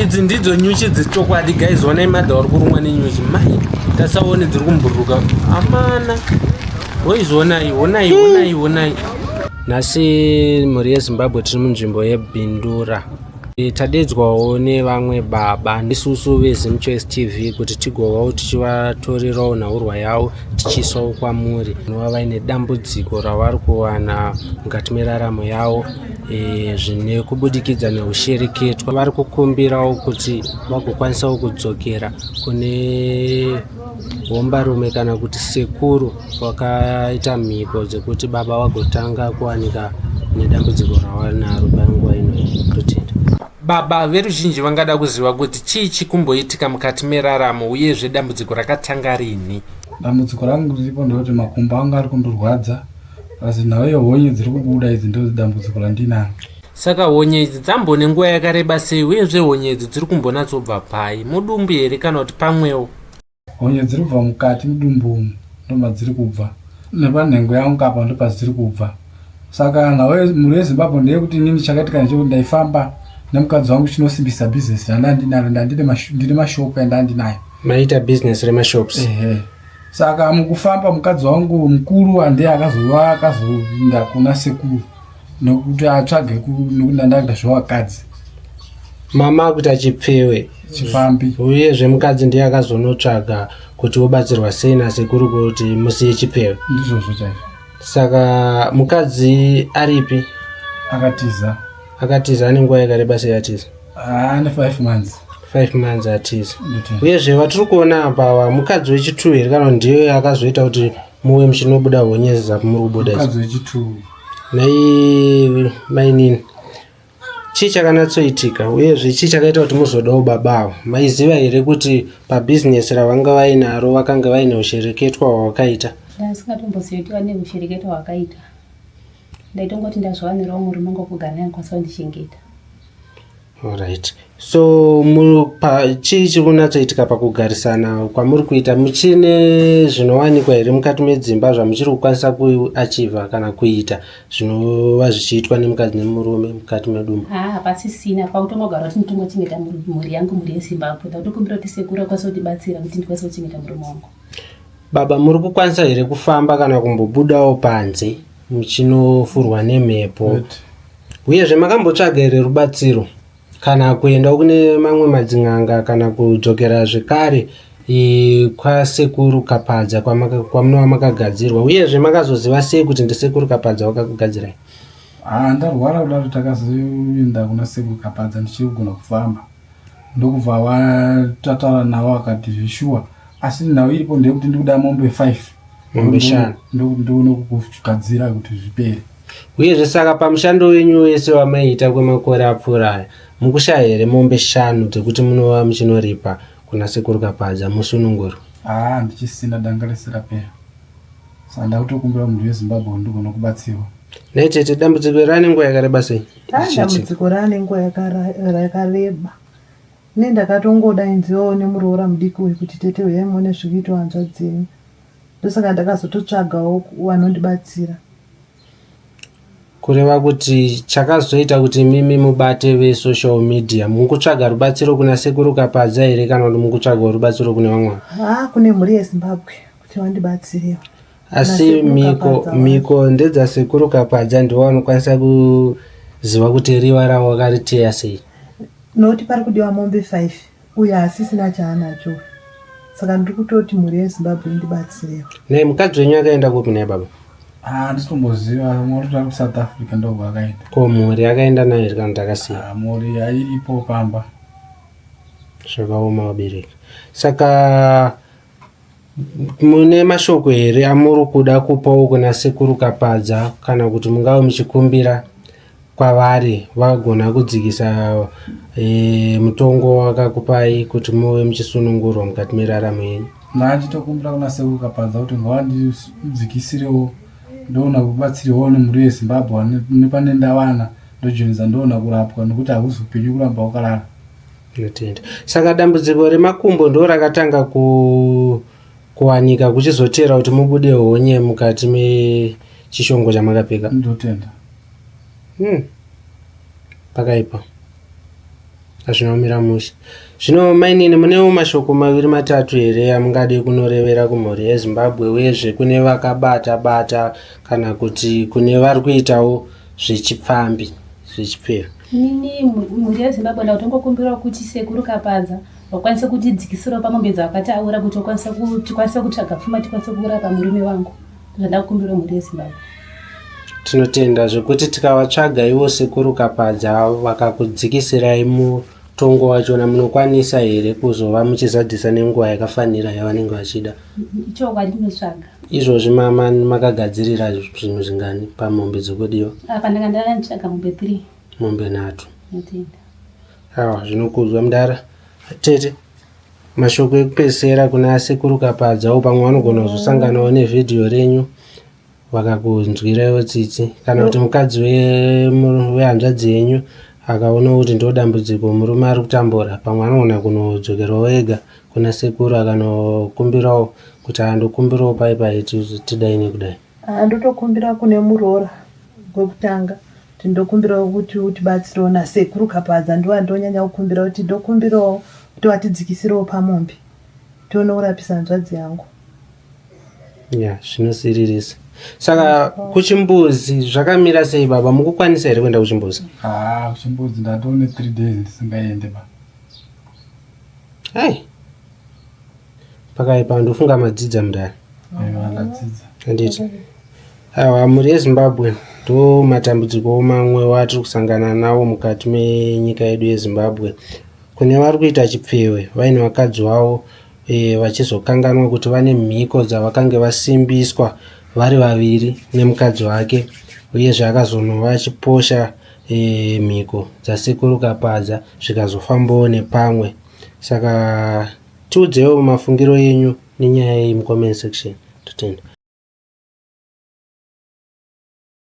idzi ndidzo nyuchi dzechokwadi guys onai madha vari kurumwa nenyuchi mai tasaone dziri kumburuka amana hoizvonai honai honai honai nhasi mhuri yezimbabwe tiri munzvimbo yebindura e, tadedzwawo nevamwe baba ndisusu vezimchoice tv kuti tigovawo tichivatorerawo nhaurwa yavo tichiisawo kwamuri vanova vaine dambudziko ravari kuwana mukati meraramo yavo e, zvine kubudikidza neushereketwa vari kukumbirawo kuti vagokwanisawo kudzokera kune hombarume kana kuti sekuru vakaita mhiko dzekuti baba vagotanga kuwanika nedambudziko rawanaro panguva ino pretend baba veruzhinji vangada kuziva kuti chii chikumboitika mukati meraramo uyezve dambudziko rakatanga rini dambudziko rangu riripo ndekuti makumbo anga ari kundorwadza Asi nhau yehonye dziri kubuda idzi ndodzi dambudziko randinaro. Saka honye idzi dzambone nguva yakareba sei uyezve honye idzi dziri kumbonatsobva pai, mudumbu here kana kuti pamwewo? Honye dziri kubva mukati mudumbu umu ndomadziri kubva. Nepanhengo yangu apa ndopadziri kubva. Saka nhau yemhuri yeZimbabwe ndeyekuti inini chakaitika ndechekuti ndaifamba nemukadzi wangu chinosimbisa business randandinaro ndandine mashop endandinayo. Maita business remashops? Ehe. Saka mukufamba mukadzi wangu mukuru hande akazova akazoinda kuna sekuru nokuti atsvage nokuti andakuita zvevakadzi mama akuita chipfewe chifambi uyezve mukadzi ndiye akazonotsvaga kuti wobatsirwa sei nasekuru kuti musiye chipfewe ndizvozvo chaizvo saka mukadzi aripi akatiza akatiza ane nguva yakareba sei atiza Ah, ne 5 months. 5 months atizi. Uyezve vatiri kuona apa wa mukadzi wechi 2 here kana ndiye akazoita kuti muwe muchinobuda honyezi za kumuri kubuda. Mukadzi wechi 2. Mai mai nini? Chii chakanatsoitika uyezve chii chakaita kuti muzodawo baba avo? Maiziva here kuti pa business ravanga vainaro vakanga vaine ushereketwa hwawakaita? Ndasingatombosiyo kuti vane ushereketwa hwakaita. ndaitongoti ndazviwanirawo murume ngokugara naye ndikwanisa kundichengeta Alright. So mu- pa- chii chiri kunatsoitika pakugarisana kwamuri kuita muchine zvinowanikwa here mukati medzimba zvamuchiri kukwanisa kuachiva kana kuita zvinova zvichiitwa nemukadzi nemurume mukati medumba haa hapasisina pakutongogara kuti nditongochengeta mhuri mhuri yangu mhuri yezimbabwe ndakutokumbira kuti sekuru akwanisa kutibatsira kuti ndikwanisa kuchengeta murume wangu Baba muri kukwanisa here kufamba kana kumbobudawo panze muchinofurwa nemhepo uyezve makambotsvaga here rubatsiro kana kuendawo kune mamwe madzin'anga kana kudzokera zvekare kwasekuru kapadza kwamunova makagadzirwa uyezve makazoziva sei kuti ndisekuru kapadza wakakugadzirai ah, ndarwara kudaro takazoenda kuna sekuru kapadza ndichiri kugona kufamba ndokubva vatataura navo akati zveshuwa asi nhau iripo ndeyekuti ndikuda mombe five mombe shanu ndokuti ndione kugadzira kuti zvipere uyezve saka pamushando wenyu wese wamaiita kwemakore apfuura aya mukushaya here mombe shanu dzekuti munova muchinoripa kuna sekuru kapadza musunungurwa haa handichisina danga rese rapera saka ndakutokumbira munhu wezimbabwe ndigonokubatsirwa naitete dambudziko iri ane nguva yakareba sei Haa dambudziko raane nguva yakareba. Ini ndakatongoda ainzi iwewe une muroora mudiki uyu kuti tete huyai muone zviri kuitwa hanzvadzi yenyu. Ndosaka ndakazototsvagawo vanondibatsira. Kureva kuti chakazoita kuti imimi mubate vesocial media mukutsvaga rubatsiro kuna Sekuru Kapadza here kana kuti mukutsvagawo rubatsiro kune vamwe? Haa kune mhuri yeZimbabwe kuti vandibatsirewo. Asi mhiko mhiko ndedza sekuru Kapadza ndiwo anokwanisa kuziva kuti riwa ravo vakariteya sei. Not pari kudiwa mombe five uyo asisina chaanacho saka ndiri kutoti mhuri yeZimbabwe indibatsirewo. Nhai mukadzi wenyu akaenda kupi nhai baba? Ah, handisi kumboziva mwakutoda kuti south africa ndobva vakaenda Ko mhuri yakaenda nayo here kana kuti akasiya? Ah, mhuri airipo pamba Zvakaoma vabereki. Saka mune mashoko here amuri kuda kupawo kuna sekuru kapadza kana kuti mungava muchikumbira kwavari vagona kudzikisa e, mutongo wakakupai kuti muve muchisunungurwa mukati meraramo yenyu manje tokumbira kuna sekuru kapadza kuti ngavandidzikisirewo ndoona kubatsirwawo nemhuri yezimbabwe nepane ndawana ndojoinza ndoona kurapwa nokuti hakuzi upenyu kuramba wakalala Tinotenda. Saka dambudziko remakumbo ndo rakatanga ku kuwanika kuchizoteera kuti mubude honye mukati mechishongo chamakapfeka. Ndotenda. Hmm. Pakaipa. Hazvina kumira mushe. Zvino mainini munewo mashoko maviri matatu here amungade kunorevera kumhuri yeZimbabwe uyezve kune vakabata bata kana kuti kune vari kuitawo zvechipfambi zvechipfero. Inini mhuri yeZimbabwe ndakutongokumbirawo kuti sekuru Kapadza vakwanise kutidzikisirawo pamombe dzavakataura kuti tikwanise kutsvaga pfuma tikwanise kurapa murume wangu zvandakukumbirawo mhuri yeZimbabwe. Tinotenda zvekuti tikavatsvaga ivo sekuru Kapadza vakakudzikisirai mutongo wachona munokwanisa here kuzova muchizadzisa nenguva yakafanira yavanenge vachida? Ichokwadi ndinotsvaga. Izvozvi mama makagadzirira zvinhu zvingani pamombe dzekudiwa? Apa ndanga ndanga ndichitsvaga mombe 3. Mombe nhatu. Ndinotenda. Awa zvinokudzwa mdara. Tete mashoko ekupedzisira kuna sekuru kapadzawo pamwe vanogona kuzosanganawo nevhidhiyo renyu vakakunzwiraiwo tsitsi kana kuti mukadzi we- mu- wehanzvadzi yenyu akaona kuti ndo dambudziko murume ari kutambura pamwe anogona kunodzokerawo ega kuna sekuru akanokumbirawo kuti andokumbirawo pai pai tidai nekudai ah, ndotokumbira kune muroora kwekutanga kuti ndokumbirawo kuti utibatsirewo nasekuru kapadza ndivo andonyanya kukumbira kuti ndokumbirawo kuti vatidzikisirewo pamombe tione kurapisa hanzvadzi yangu ya zvinosiririsa saka kuchimbuzi zvakamira sei baba mukukwanisa here kuenda kuchimbuzi haa kuchimbuzi ndatone three days ndisingaende baba Hey. Pakaipa ndofunga madzidza mudare. Handiti. Awa mhuri yeZimbabwe ndo matambudziko mamwe watiri kusangana nawo mukati menyika yedu yeZimbabwe. Kune vari kuita chipfewe vaine vakadzi wavo e, vachizokanganwa kuti vane mhiko dzavakange vasimbiswa vari vaviri nemukadzi wake uyezve akazonova achiposha Eeh mhiko dzasekuru Kapadza zvikazofambawo nepamwe saka tiudzewo mafungiro enyu nenyaya iyi mucomment section. Totenda.